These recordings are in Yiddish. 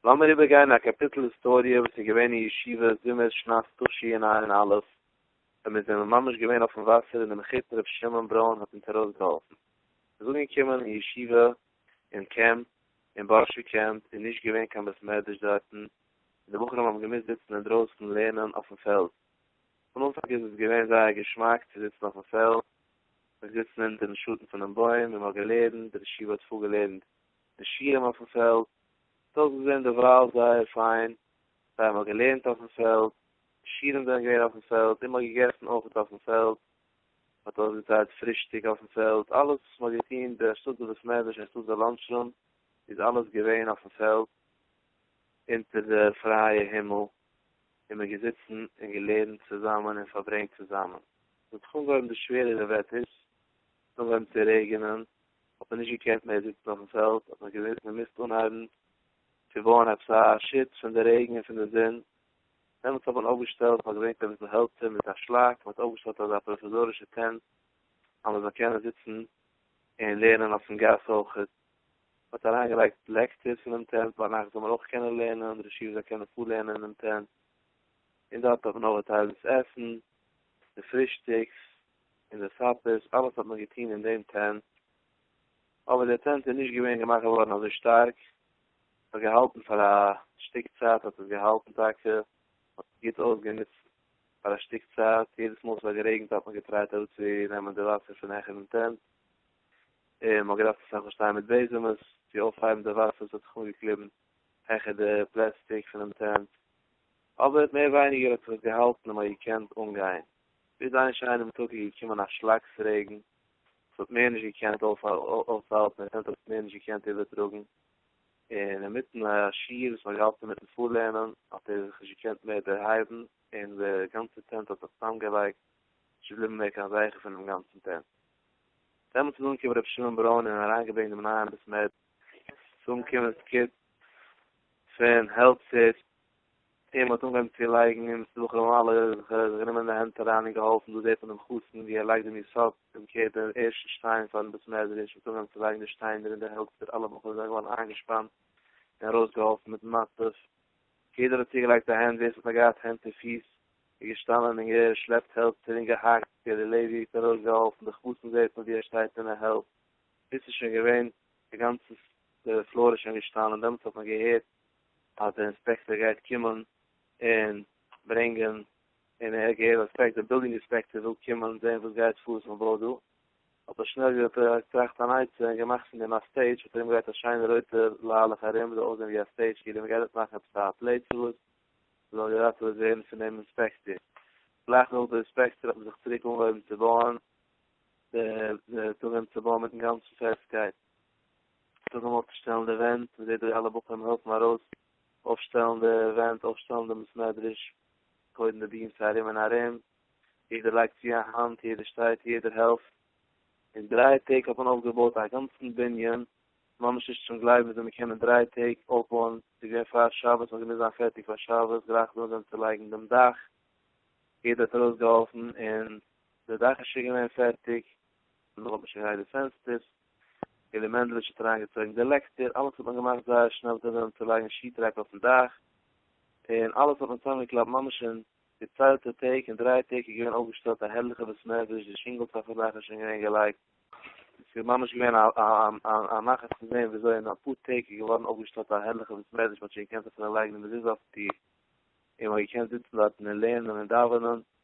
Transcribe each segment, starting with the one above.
לאמיר איבערגיין א קאפיטל היסטאריע וואס איז געווען אין ישיבה זומער שנת תשי ע אין אלף ווען מיר זענען ממש געווען אויפן וואסער און די מחותן ר' שמעון ברוין האט אונז ארויסגעהאלפן. עס איז אנגעקומען אין ישיבה אין קעמפ אין בארשי קעמפ איז נישט געווען קיין בית מדרש דארטן און די בחורים האבן געמוזט זיצן אינדרויסן לערנען אויפן פעלד. פון אנפאנג איז עס געווען זייער געשמאק צו זיצן אויפן פעלד, מ'איז געזיצן אונטערן שאטן פונעם בוים און מ'האט געלערנט, די ישיבה האט פארגעלערנט די שיעורים אויפן פעלד, ס'האט אויסגעזען דערווייל זייער פיין, זיי האבן געלערנט אויפן פעלד, די שיעורים זענען געווען אויפן פעלד, און מען האט געגעסן אויכעט אויפן פעלד, מען האט אויסגעטיילט פרישטאג אויפן פעלד, אלעס וואס מען האט געטון בשטאט בבית מדרש און שטאט בלאנטש רום איז אלעס געווען אויפן פעלד, אונטער די פרייע הימל, און מען געזיצן און געלערנט צוזאמען און פארברענגט צוזאמען. ס'האט זיך אנגעהויבן די שווערערע וועטערס, ס'איז אנגעהויבן צו רעגענען, האט מען נישט געקענט מער זיצן אויפן פעלד, האט מען געמוזט אנהייבן צו בויען עפעס א שוץ פון די רעגן און פון די זון, דעמאלטס האט מען אויפגעשטעלט, מען האט געברענגט אביסל העלצער מיט א שלאק, מען האט אויפגעשטעלט אזא פראוויזארישע טענט, אז מען זאל קענען זיצן און לערנען אויפן גאס אויכעט, מען האט אריינגעלייגט לעקטערס אינעם טענט, ביינאכט זאל מען אויך קענען לערנען און די ישיבה זאל קענען פארלערנען אינעם טענט, און דארט האט מען אויך געטיילט דאס עסן, די פרישטאגס, אין די סאפערס, אלעס האט מען געטוהן אין דעם טענט, אבער דער טענט איז נישט געווען געמאכט געווארן אזוי שטארק, ס'האט געהאלטן פאר א שטיק צייט האט עס געהאלטן טאקע, מען האט עס גוט אויסגענוצט פאר א שטיק צייט, יעדעס מאל ס'האט גערעגנט האט מען געטרייט אראפצונעמען די וואסער פון העכער דעם טענט, און מען האט געדארפט אסאך מאל שטיין מיט בעזעמס צו אויפהייבן די וואסער וואס האט זיך אנגעקליבן העכער די פלעסטיק פונעם טענט, אבער מער ווייניגער האט זיך עס געהאלטן און מען האט געקענט אנגיין. ביז איין שיינעם טאג איז געקומען א שלאקס רעגן, עס האט מער נישט געקענט אויסהאלטן, עס האט עס מער נישט געקענט איבערטראגן, און אינמיטן א שיעור וואס מען האט געהאלטן אינמיטן פארלערנען, האט ער זיך נישט געקענט מער דערהייבן, און די גאנצע טענט האט זיך צוזאמגעלייגט, נישט געבליבן מער קיין זכר פונעם גאנצן טענט. דעמאלטס איז אנגעקומען רבי שמעון ברוין און אריינגעברענגט דעם נייעם בית מדרש, עס איז אנגעקומען סקוט פון העלצער, און מ'האט אנגעהויבן צו לייגן און ס'איז דורך דעם אלע זיך גענומען אין די הענט אריין און געהאלפן דא זעט מען דעם חתן ווי ער לייגט דעם יסוד און קערט די ערשטע שטיין פארן בית מדרש, מ'האט אנגעהויבן צו לייגן די שטיינער און די העלצער, אלע בחורים זענען געווארן איינגעשפאנט און ארויסגעהאלפן מיט מצות, יעדער האט צוגעלייגט א הענט, ווער ס'האט נאר געהאט הענט און פיס איז געשטאנען און געשלעפט העלצער און געהאקט, גערער לעווי האט ארויסגעהאלפן די חתן זעט מען ווי ער שטייט און ער העלפט, ביז ס'איז שוין געווען די גאנצע פלאר איז שוין געשטאנען, דעמאלטס האט מען געהערט אז די אינספעקטער גייט קומען און ברענגען און ער האט געהערט אז פרעגט די בילדינג אינספעקטער וויל קומען זעהן וואס גייט פאר וואס מען בויט דא האט ער שנעל געטראכט אן עצה און געמאכט פון דעם א סטעידזש האט ער ארומגעלייגט א שיינע רויטע ליילעך ארום זאל אויסזעהן ווי א סטעידזש כאילו מען גייט דארט מאכן עפעס א פלעי צו וואס זאל געראטעוועט ווערן פון דעם אינספעקטער גלייך נאך די אינספעקטער האט מען זיך צוריק אנגעהויבן צו בויען די די צוגעהויבן צו בויען מיטן גאנצן פעסטקייט. זאג אים אויפצושטעלן די ווענט, מען זעט דא אלע בחורים העלפן ארויס אויפשטעלן די ווענט, אויפשטעלן דעם בית מדרש, קודם די ביעמס ארום און ארום, יעדער לייגט צו א האנט, יעדער שטייט, יעדער העלפט, אין דריי טעג האט מען אויפגעבויט א גאנצן בנין, ממש נישט צום גלייבן וויאזוי מען קען אין דריי טעג אויפבויען, ס'איז געווען פאר שבת, מען האט געמוזט זיין פערטיג פאר שבת, גלייך דאן זענען צו לייגן דעם דאך, יעדער האט ארויסגעהאלפן און די דאך איז שוין געווען פערטיג, מען האט נישט אריין די פענסטערס, און די מענדלעטש האט אריין געצויגן די לעקטער, אלעס האט מען געמאכט זייער שנעל כדי אזוי צו לייגן שיעטרעק אויפן דאך, און אלעס האט מען צוזאם געקלאפט ממש אין געציילטע טעג, אין דריי טעג איז געווען אויפגעשטעלט א הערליכע בית מדרש, די שינגלס אויפן דאך איז שוין געווען געלייגט, עס איז ממש געווען א נחת צו זען ווי אזוי אין אפאר טעג איז געווארן אויפגעשטעלט א הערליכע בית מדרש, מען האט שוין געקענט אפילו לייגן די מזוזה אויפן טיר, און מען האט געקענט זיצן דארטן און לערנען און דאווענען.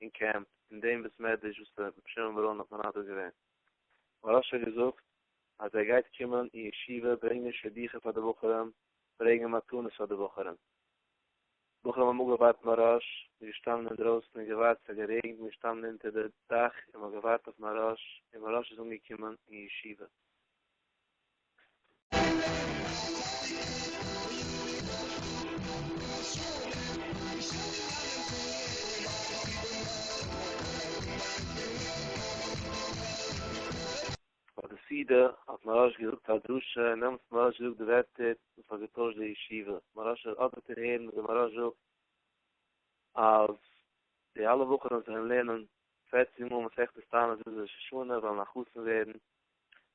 אין קעמפ אין דעם בית מדרש וואס ר' שמעון בר און האט מנדב געווען. מוהרא ש האט געזאגט אז ער גייט קומען אין ישיבה ברענגען שידוכים פאר די בחורים, ברענגען מתנות פאר די בחורים. בחורים האבן אפגעווארט מוהרא ש, מ'איז געשטאנען אינדרויסן און געווארט, ס'האט גערעגנט, מ'איז געשטאנען אונטער די דאך און מ'האט געווארט אויף מוהרא ש, און מוהרא ש איז אנגעקומען אין ישיבה. ביי די סעודה האט מהראש געזאגט א דרשה און דעמאלטס האט מהראש געזאגט די ווערטער וואס האט געטוישט די ישיבה, מהראש האט אדערטער הערן וואס די מהראש זאגט אז די אלע בחורים זאלן לערנען פֿערצן מאל מסכת תענית ביז ראש השנה זאלן א חתן ווערן,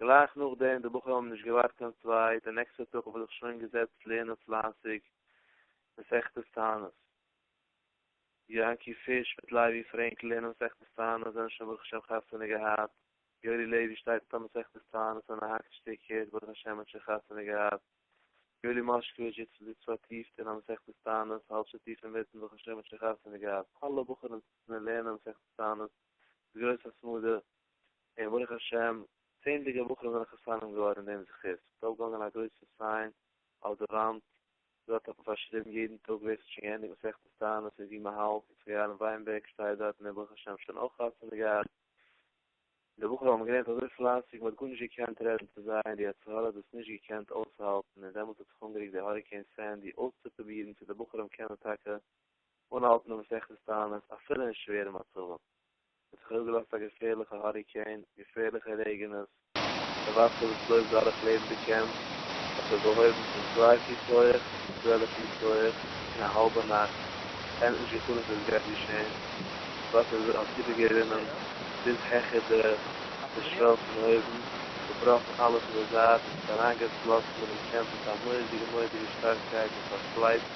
גלייך נאכדעם, די בחורים האבן נישט געווארט קיין צווייט, די נעקסטע טאג האב איך זיך שוין געזעצט לערנען פלייסיג מסכת תענית. יענקי פיש מיט לייבי פרענק לערנען מסכת תענית, זענען שוין ברוך השם חתונה געהאט, יורי לעווי שטייט מיט א מסכת תענית און א האקט שטיקער, ברוך השם האט שוין חתונה געהאט, יואלי מאשקאוויטש זיצט זיצט פארטיפט אין א מסכת תענית, האלב שטיף אינמיטן, ברוך השם האט שוין חתונה געהאט, אלע בחורים זיצן און לערנען מסכת תענית, גרויס התמדה, און ברוך השם צענדליגע בחורים זענען חתנים געווארן אין דעם זכות, ס'איז אויפגעהאנגען א גרויסע סיין אויף די וואנט, דארט האט מען פארשריבן יעדן טאג ווער ס'האט שוין געענדיגט מסכת תענית און ווי מ'האלט, יצחק אהרן וויינבערג שטייט דארט און ברוך השם שוין אויך חתונה געהאט, די בחורים האבן געלערנט אזוי פלייסיג מ'האט גארנישט געקענט רעדן צו זיי און די יצר הרע האט דאס נישט געקענט אויסהאלטן און דעמאלטס האט זיך אנגערוקט די האריקעין סענדי אויסצופרובירן צו די בחורים קענען טאקע אנהאלטן מסכת תענית אפילו אין שווערע מצבים, עס האט זיך אפגעלאזט א געפערליכע האריקעין, געפערליכע רעגענעס, די וואסער וואס לויפט דורך לעבן די קעמפ האט זיך געהויבן פון צוויי פיס הויעך צו צוועלף פיס הויעך אין א האלבע נאכט, כ'האב נישט געפונען צו עס גייט געשען, דאס וואסער איז האט איבערגערינען ביז העכער די די שוועל פון אויבן, צובראכן אלעס אין די זייט און עס אריינגעפלאסן אינעם קעמפ מיט א מורא'דיגע מורא'דיגע שטארקייט און פארפלייצט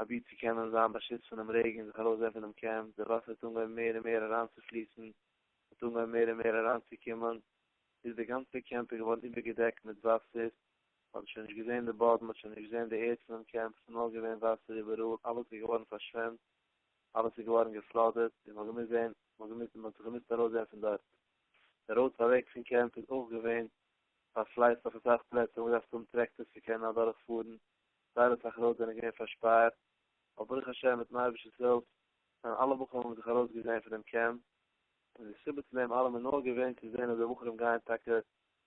אבי צו קענען זיין באשיצט פונעם רעגן און זיך ארויסזעהן פונעם קעמפ, די וואסער האט אנגעהויבן מער און מער אריינצופליסן, האט אנגעהויבן מער און מער אריינצוקומען, ביז די גאנצע קעמפ איז געווארן איבערגעדעקט מיט וואסער, מ'האט שוין נישט געזעהן די באדן, מ'האט שוין נישט געזעהן די ערד פונעם קעמפ, עס איז נאר געווען וואסער איבעראל, אלעס איז געווארן פארשוועמט, אלעס איז געווארן געפלאדעט, און מ'האט געמוזט זעהן, מ'האט זיך געמוזט ארויסזעהן פון דארט. די ראודס אוועק פון קעמפ איז אויך געווען פארפלייצט אויף אסאך פלעצער, מ'האט געדארפט האבן טרעקטארס צו קענען אדורך פארן, זייער אסאך רויטס זענען געווען פארשפארט, אבער ברוך השם מיטן אייבערשטער'ס הילף זענען אלע בחורים זיך ארויסגעזעהן פון דעם קעמפ, און די סיבה צו דעם אלעם איז נאר געווען צו זעהן אז די בחורים גייען טאקע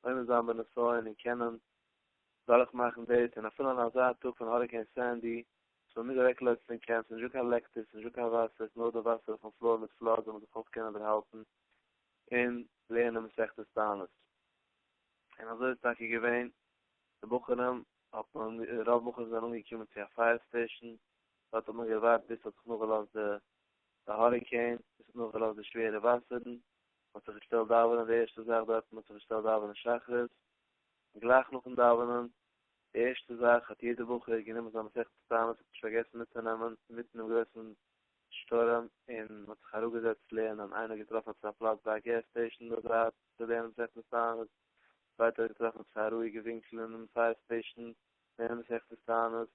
עומד זיין בנסיון און קענען דורכמאכן דאס, און אפילו אין אזא טאג פון האריקעין סענדי, עס האבן נישט אוועקגעלויפט פון קעמפ, ס'איז נישטא קיין לעקטער, ס'איז נישטא קיין וואסער, ס'איז נאר די וואסער אויפן פלאר מיט פלאד זאל מען זיך אויך קענען דערהאלטן און לערנען מסכת תענית. און אזוי איז טאקע געווען, די בחורים האט מען רוב מאל זענען אנגעקומען צו א פייער סטעישאן, דארט האט מען געווארט ביז ס'האט זיך נאכגעלאזט די די האריקעין, ביז ס'האט נאכגעלאזט די שווערע וואסערן, מ'האט זיך געשטעלט דאווענען די ערשטע זאך דארט, מ'האט זיך געשטעלט דאווענען שחרית, גלייך נאכן דאווענען, די ערשטע זאך האט יעדער בחור גענומען זיין מסכת תענית, האט נישט פארגעסן מיטצונעמען, אינמיטן דעם גרויסן שטורעם, און מ'האט זיך אראפגעזעצט לערנען, איינער האט געטראפן עפעס א פלאץ ביי א געז סטעישאן דארט געלערנט מסכת תענית, ווייט אויסגעטראכט אויף סיי רואיגע ווינקלען און סיי ספעישן צו לערנען מסכת תענית,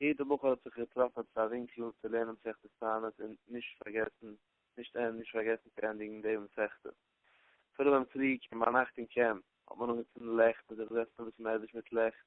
יעדע בחור האט זיך געטראפן עפעס א ווינקל צו לערנען מסכת תענית און נישט פארגעסן נישט נישט פארגעסן צו ענדיגן די מסכת. אפילו ביים קריג און ביינאכט אין קעמפ האט מען אנגעצינדן לעכט און זיך געזעצט און וויסן מערבית מיט לעכט.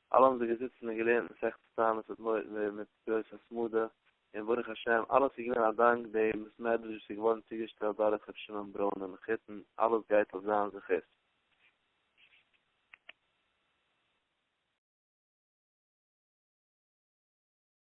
אלע האבן זיי געזיצן און געלערנט מסכת תענית מיט מורא ומיט גרויס התמדה, און ברוך השם אלעס איז געווען א דאנק דעם בית מדרש וואס איז געווארן צוגעשטעלט דורך ר' שמעון ברוין און מחותן, אלעס גייט אויף זיין זכות.